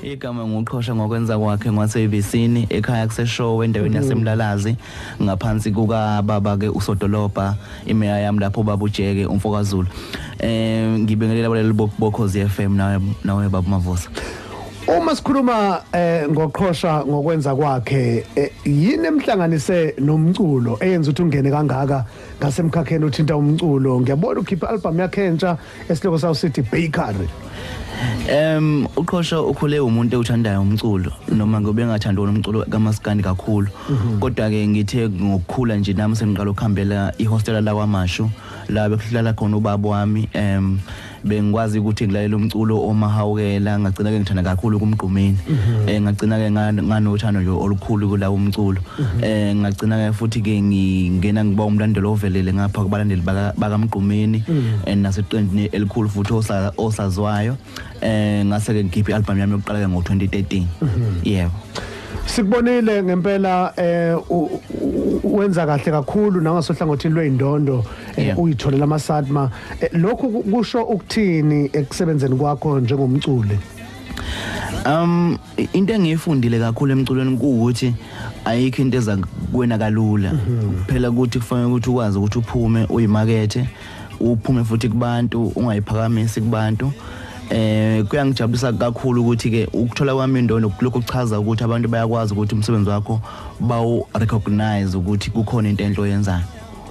igama nguqhosha ngokwenza kwakhe ngwaseyvisini ekhaya kuseshowe endaweni mm-hmm. yasemlalazi ngaphansi kukababa-ke usodolobha imeya yami lapho ubaba ujeke umfokazulu um ngibingelela baleli bokhozi f m nawe baba mavusa uma sikhuluma eh ngoqhosha ngokwenza kwakhe eh, yini emhlanganise nomculo eyenza ukuthi ungene kangaka ngasemkhakheni uthinta umculo ngiyabona ukhipha album yakhe entsha Esihloko sawo sithi bakery. Em uqhosha ukhule umuntu ewuthandayo umculo noma ngobe engathandi wona umculo kamaskandi kakhulu mhm. kodwa ke ngithe ngokukhula nje nami sengiqala ukuhambela ihostela la kwamashu la bekuhlala khona ubaba wami em bengikwazi ukuthi ngilalela umculo omahawukela ngagcina ke ngithanda kakhulu kumgqumeni mhm. eh ngagcina ke nganothando nje olukhulu kulawo umculo Mhm. eh ngagcina ke futhi ke ngingena ngiba umlandelo ovelele ngapha kubalandeli bakamgqumeni mhm. and naseqenjini elikhulu futhi osazwayo eh ngase ke ngikhiphe album yami yokuqala ke ngo-2013 mhm. yebo sikubonile ngempela eh wenza kahle kakhulu nangasohlangothini lweindondo eh, uyitholela amasadma eh, lokhu kusho ukuthini ekusebenzeni kwakho njengomculi um into engiyifundile kakhulu emculweni kuwukuthi ayikho into eza kuwena kalula mhm. kuphela ukuthi kufanele ukuthi ukwazi ukuthi uphume uyimakethe uphume futhi kubantu ungayiphakamisi kubantu eh kuyangijabulisa kakhulu ukuthi ke ukuthola kwami indondo lokho kuchaza ukuthi abantu bayakwazi ukuthi umsebenzi wakho bawu recognize ukuthi kukhona into enhle oyenzayo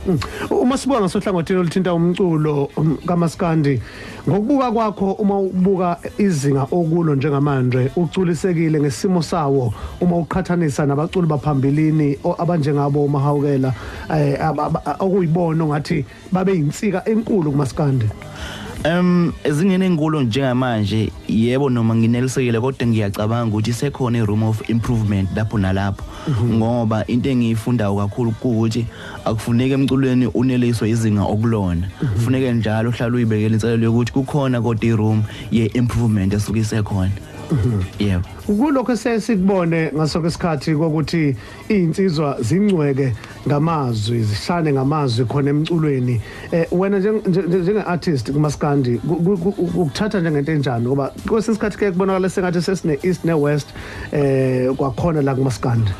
Mm. Uma sibuka ngasohlangothini oluthinta umculo um, kamaskandi ngokubuka kwakho uma ubuka izinga okulo njengamanje uculisekile ngesimo sawo uma uqhathanisa nabaculi baphambilini abanjengabo umahawukela eh, okuyibona ngathi babe yinsika enkulu kumaskandi Um ezingene enkulu njengamanje yebo noma nginelisekile kodwa ngiyacabanga ukuthi sekhona i room of improvement lapho nalapho mhm. ngoba into engiyifundayo kakhulu ukuthi akufuneki emculweni uneliswe izinga okulona mhm. kufuneke njalo uhlale uyibekela inselelo yokuthi kukhona kodwa i-room ye-improvement esuke isekhona mhm. yebo kulokho esesikubone ngasoke isikhathi kokuthi iy'nsizwa zingcweke ngamazwi zishane ngamazwi khona emculweni eh wena njenge artist kumaskandi ukuthatha njengento enjani ngoba kwesinye isikhathi ke kubonakala sengathi sesine east ne west eh kwakhona la kumaskandi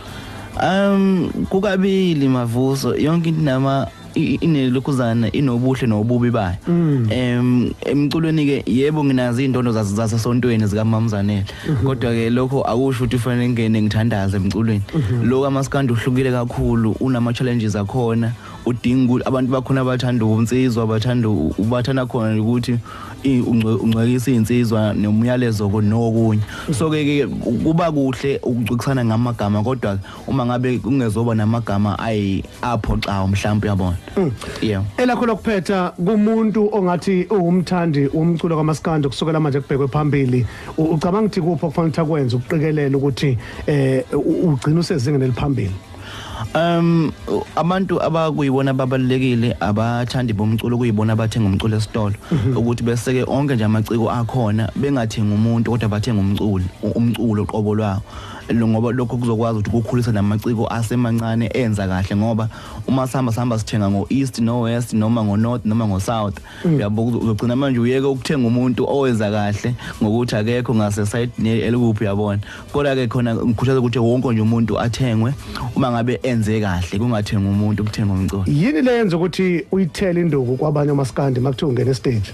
um kukabili mavuso yonke into nama inelokhuzana inobuhle nobubi bayo mm. em emculweni ke yebo nginazi indondo zasesontweni zikamamzanele mhm. kodwa ke lokho akusho ukuthi ufanele ngene ngithandaze emculweni mhm. lokho amaskandi uhlukile kakhulu unama challenges akhona udinga ukuthi abantu bakhona abathanda unsizwa abathanda ubathanda khona ukuthi ungcwekisa insizwa nomyalezo nokunye so ke kuba kuhle ukucikisana ngamagama kodwa uma ngabe kungezoba namagama ayi apho xa mhlawumbe uyabona mm. yeah elakho lokuphetha kumuntu ongathi uwumthandi womculo kamaskandi kusukela manje kubhekwe phambili ucabanga ukuthi kuphi okufanele ukuthi akwenze ukuqikelela ukuthi eh ugcina usezingeni eliphambili um abantu abakuyiwona babalekile abathandi bomculo kuyibona abathenga umculo esitolo mhm. ukuthi beseke onke nje amaciko akhona bengathenga umuntu kodwa bathenga umculo umculo qobo lwawo ngoba lokho kuzokwazi ukuthi kukhulise namaciko asemancane enza kahle ngoba uma sihamba sihamba sithenga ngo-east no-west noma ngo-north noma ngo-south uyabo uzogcina manje uyeke ukuthenga umuntu owenza kahle ngokuthi akekho ngase side elikuphi yabona kodwa ke khona ngikhuthaza ukuthi wonke nje umuntu athengwe uma ngabe enze kahle kungathenga umuntu kuthenga umculo yini lenza ukuthi uyithele induku kwabanye amaskandi makuthiwa ungena stage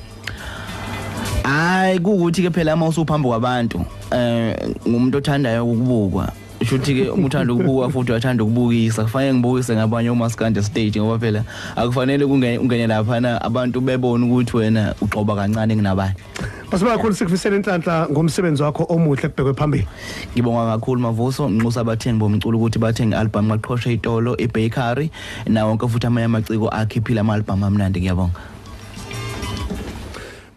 hayi kukuthi ke phela uma usuphambi kwabantu eh ngumuntu othandayo ukubukwa kusho ukuthi-ke uma uthanda ukubuka futhi uyathanda ukubukisa kufanele ngibukise ngabanye omaskande stage ngoba phela akufanele ungene laphana abantu bebone ukuthi wena ugxoba kancane kunabanye Masibonga kakhulu sikufisela inhlanhla ngomsebenzi wakho omuhle kubhekwe phambili. Ngibonga kakhulu Mavuso nginxusa abathengi bomculo ukuthi bathenge album maqhoshe itolo iBakery nawo wonke futhi amanye amaciko akhiphile ama album amnandi ngiyabonga.